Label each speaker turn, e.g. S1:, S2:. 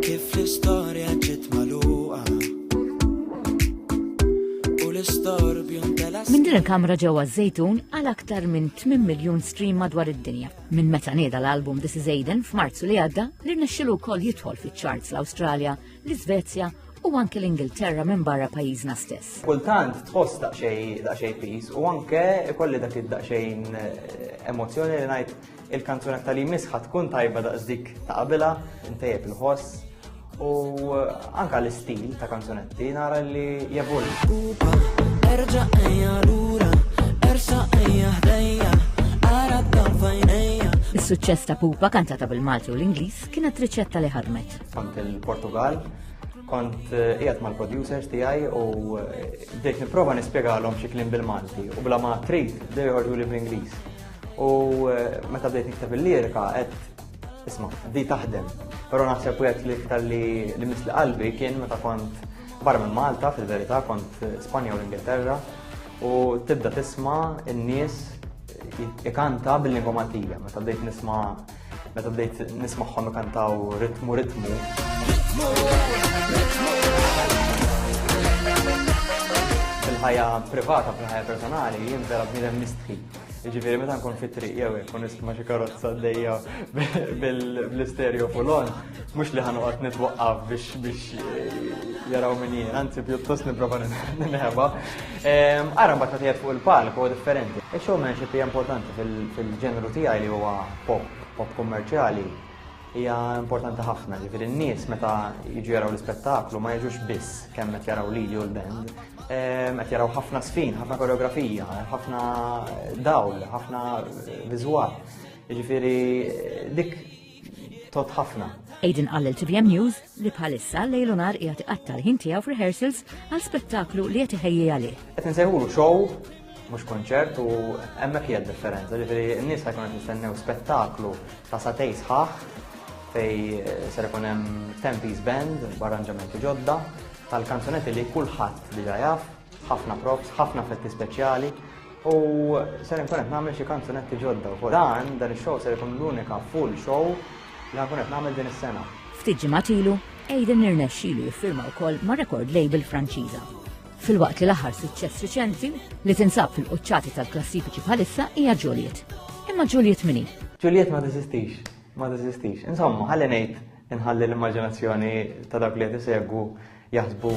S1: Kif l-istorja ġiet magħluqa u l-istorbju ntela' Minn din il-kamra ġewwa
S2: ż-Żejtun għal aktar minn 8 miljun stream madwar id-dinja. Minn meta nieda l-album This Is Aiden f'Marzu li għadda li rnexxilu wkoll jidħol fiċ-charts l-Awstralja, l-Iżvezja u anke l-Ingilterra minn barra pajjiżna stess. Kultant tħoss
S3: daqsxejn daqsxejn piż u anke ikolli dak id-daqsxejn eh, emozzjoni li ngħid Il-kanzunetta li jmiss ħad tkun tajba daqs dik ta' qabilha, intejjeb il-ħoss u anka l-istil ta' kanzunetti nara li jevol. Erġa'
S1: ejja lura, ersa' ejja ħdejja, ara fajnejja. Is-suċċess ta'
S2: Pupa kantata bil-Malti u l-Ingliż kienet riċetta li ħadmet. Kont il-Portugal,
S3: kont eh, qiegħed mal-producers tiegħi u eh, bdejt nipprova nispjegalhom xi kliem bil-Malti u bla ma trid bdew joħorġu li bl-Ingliż. U eh, meta bdejt nikteb il-lirika, għed, isma, di taħdem. Pero naħseb u li iktar li li misli qalbi kien meta kont barra minn Malta, fil-verità, kont Spanja u l-Ingilterra, u tibda tisma n-nies ikanta bil-lingwa Maltija, meta bdejt nisma meta bdejt nismaħħom ikantaw ritmu ritmu. Fil-ħajja privata, fil-ħajja personali, jien vera bniedem mistħi. Ġifiri, meta nkun fit triq jew jekk kun nisma xi karozza għaddejja bl-istereo fulon, mhux li ħanoqgħod nitwaqqaf biex biex eh, jaraw min jien, anzi pjuttost nipprova nħeba. Ehm, ara mbagħad meta fuq il-palk huwa differenti. Ix-showmanship hija importanti fil-ġenru tiegħi li huwa pop, pop kummerċjali, hija importanti ħafna, ġifieri n-nies meta jiġu jaraw l-ispettaklu ma jiġux biss kemm qed jaraw lili u l-band, ehm, qed jaraw ħafna sfin, ħafna koreografija, ħafna dawl, ħafna viżwal. Ġifieri dik tot ħafna. Aiden għallel TVM
S2: News li bħalissa lejlu nar jgħat iqattar ħin tiegħu f'rehearsals għal spettaklu li qed iħejji għalih. Qed nsejħulu show
S3: mhux konċert u hemmhekk hija differenza, ġifieri n-nies ħajkun qed nistennew spettaklu ta' satej sħaħ fej eh, ser ikun hemm tempis band b'arranġamenti ġodda tal-kanzunetti li kulħadd diġà jaf, ħafna props, ħafna fetti speċjali u ser ikun qed nagħmel xi kanzunetti ġodda. U dan dan ix-show ser ikun l-unika full show li ħakun qed nagħmel din is-sena. Ftit ġimgħat ilu,
S2: Aiden irnexxilu jiffirma wkoll ma' record label Franċiża filwaqt li l-aħħar suċċess riċenti li tinsab fil-quċċati tal-klassifiċi bħalissa hija Juliet. Imma Juliet mini? Juliet ma teżistix,
S3: ma teżistix. Insomma, ħalli ngħid inħalli l-immaġinazzjoni ta' dak li qed isegwu jaħsbu.